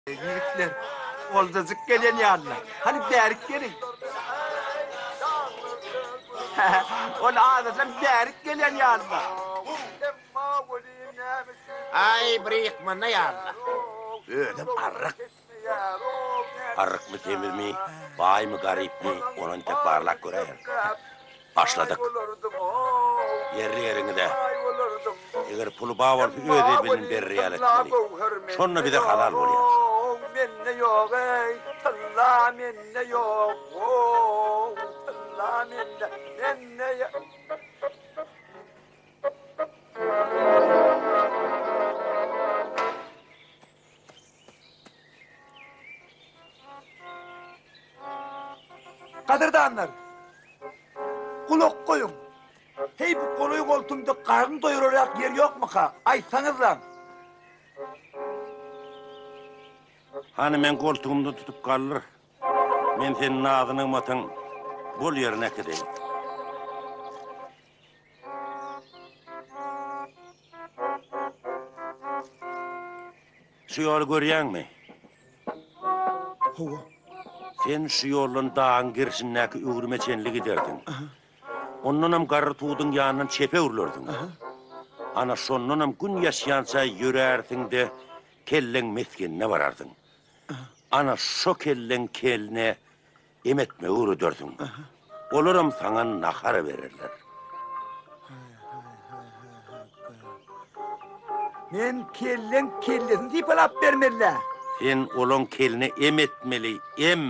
Ýigitler oldajyk gelen ýalylar. Hany bärik geliň. Ol adajam bärik gelen ýalylar. Aý, bir ýykmanda ýalylar. Özem arryk. Arrykmy, semizmi, baýmy, garypmy, ony entek barlap göräýeris. Başladyk. Ýerli ýeriňize. Eger puly bar bolsa öz elbinden berer ýaly etmeli. Şonda bize halal bolýar. Ow mende ýok eý tylla mende ýok ow tylla mende mende Gadyrdanlar, gulak goýuň. Heý, bu golaý goltumda garyn doýurarak ýer ýokmyka? Aýtsaňyzlaň. Hany men goltugymda tutup galdyr. Men seni nazy-nygmatyň bol ýerine äkideýin. Şu ýoly görýäňmi? Hawa. Sen şu ýoldan dagyň gerşindäki öwrüme çenli giderdiň. Ondanam garry tuduň ýanyndan çepe öwrülerdiň. Ana şondanam gün ýaşýança ýörärsiň-de, kelleň mesgenine barardyň. Ana şo kelleň kelne Em etmegi öwredersiň. Olaram saňa nahar bererler. Men kelleň kellesini sypalap bermelä. Sen olaň keline em etmeli, em.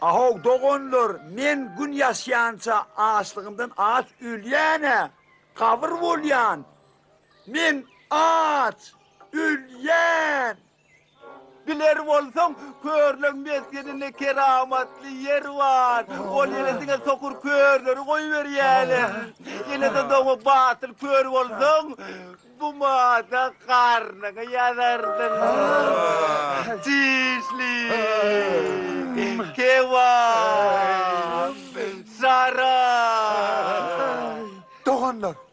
Ahow doganlar, men gün ýaşýança açlygymdan aç ölýän-ä, gabyr bolýan. Men aç ölýän. Biler bolsaň, körleň mesgeninde keramatly ýer bar. Ol ýere diňe sokur körleri goýberýärler. Ýene-de doňa batyl kör bolsaň, gumada garnyňy ýazarsyň. Çişli, kebap, şarap. Doganlar!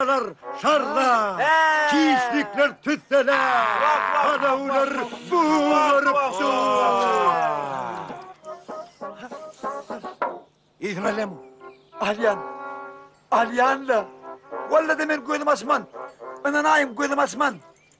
Şarlar, şarlar, kişlikler tüsseler, Adawlar bugarypdyr. Yzmalem, alýan, alýan-la. Walla-da men gözüm açman, ynanaýyň gözüm açman.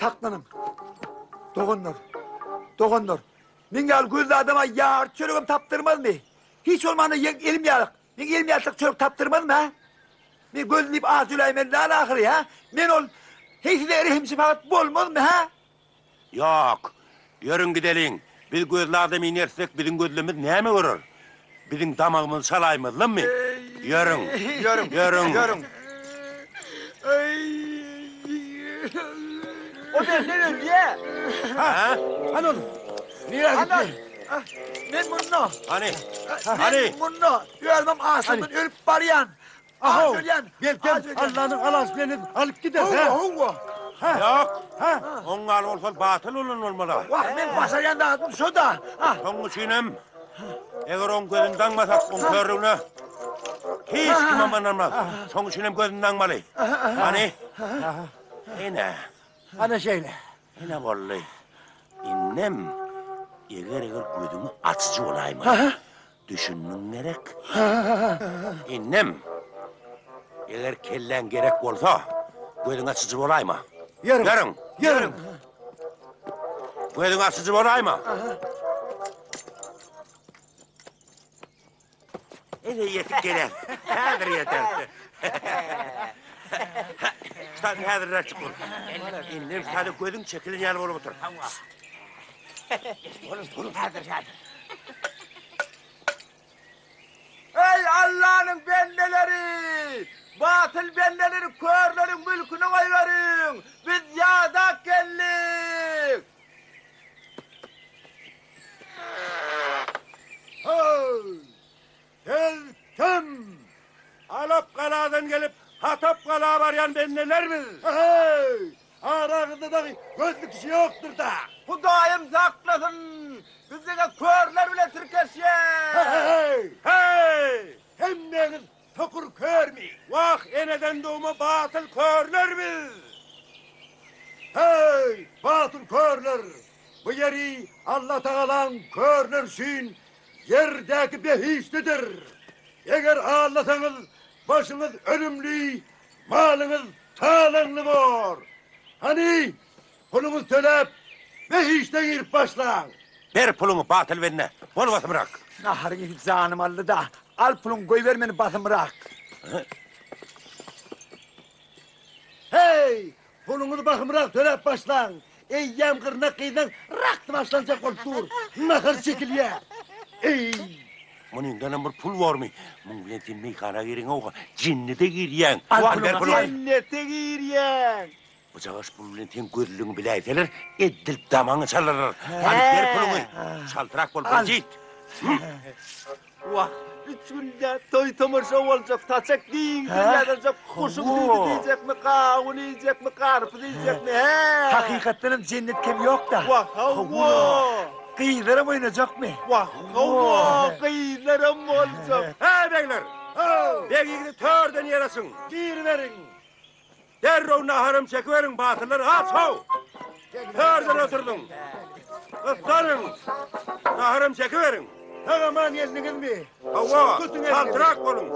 Saklanyň. Doganlar. Doganlar. Men ýaly gözli adama ýar çöregem tapdyrmazmy? Hiç bolmanda ýeň elim ýalyk. Ýeň elim ýalyk çörek tapdyrmazmy, ha? Men gözli diýip az jöläýmeli dal ahyry, ha? Men ol heýsize rehimşi fakat bolmazmy, ha? Ýok. Ýörüň gideliň. Biz gözli adam inersek, biziň gözlemiz näme görer? Biziň damagymyzy çalaýmazlarmy? Ýörüň. Ýörüň. Ýörüň. Ýörüň. O benden ölýä. Ha? Hany ol? Nirä gitdi? Men munda. Hany? Hany? Men munda. Özüm açlykdan ölüp barýan. Ahaw, belkem, Allanyň halasy bilen edip alyp gider. Howwa, howwa. Ýok. Ha? Oň ýaly bolsa batyl bolan bolmaly. Wah, men başarýan zadym şo-da. Şonuň üçin hem, eger oň gözüni daňmasak, oň körügine hiç kim hem ynanmaz. Şonuň üçin hem gözüni daňmaly. Hany? Ine. Ana şeýle. Ine boldy. Indem, eger-eger gözüňi açyjy bolaýmaly. Düşündiň gerek? Innem, eger kelläň gerek bolsa, gözüň açyjy bolaýma. Ýörüň! Ýörüň! Gözüň açyjy bolaýma. Ele ýetip geler. Häzir ýeter. Şaýy häzirräk çyk bol. Innem, şaýy gözüň çekilen ýaly bolup otur. Onuň pulu häzir häzir. Eý Allanyň bendeleri! Batyl bendeleri körleriň mülküne goýberiň! Biz ýadak geldik! Ho! Biz kim? Alap galadan gelip Hatap gala barýan bendeler biz. Heý! Araňyzda dagy gözli kişi ýokdurda? Hudaýym saklasyn! Biz diňe körler bilen tirkeşýäs. Heý! Heý! Hemmeňiz sokur körmi? Wah, eneden dogma batyl körler biz. Heý, batyl körler! Bu ýeri Allatagalaň körler üçin Ýerdäki behişdidir. Eger allasaňyz, başyňyz önümli, malyňyz talaňly bor. Hany, puluňyzy töläp, behişde girip başlaň. Ber puluňy, batyl bende. Bol basymrak. Naharyňy iýip janym aldy-da, al puluňy goýber meni basymrak. Heý, Puluňyzy bahymrak töläp başlaň. Eýýäm gyrnak gyzlaň rakdy başlanjak bolup dur. Nahar çekilýär. Eý! Muny indenem bir pul bormy? Muň bilen sen meýhana gireňow-ha, jennete girýäň. Al, ber puluňy. Jennete girýäň. Bujagaş pul bilen seň gözlügiňi biläýseler, eddilip damagyňy çalarlar. Hany, ber puluňy. Çaltrak bol, bir jyt. Wah, üç günde toý-tomaşa boljak, saçak giňden ýazyljak, goşun düýbi diýjekmi, gawun iýjekmi, garpyz iýjekmi, he? Hakykatdan hem jennet kem ýok-da. Wah, hawa! Gyzlaram oýnajakmy? Wah, hawa, gyzlaram boljak. Heý, begler! Ho! Beg ýigidi törden ýer açyň! Giriberiň! Derrew naharam çekiberiň, batyrlar, aç-how! Hörden oturdyň. Gyssanyň. Naharam çekiberiň. Sag-aman geldiňizmi? Hawa, çaltrak boluň.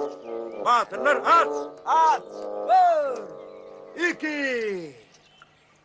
Batyrlar, aç! Aç! Bir! Iki!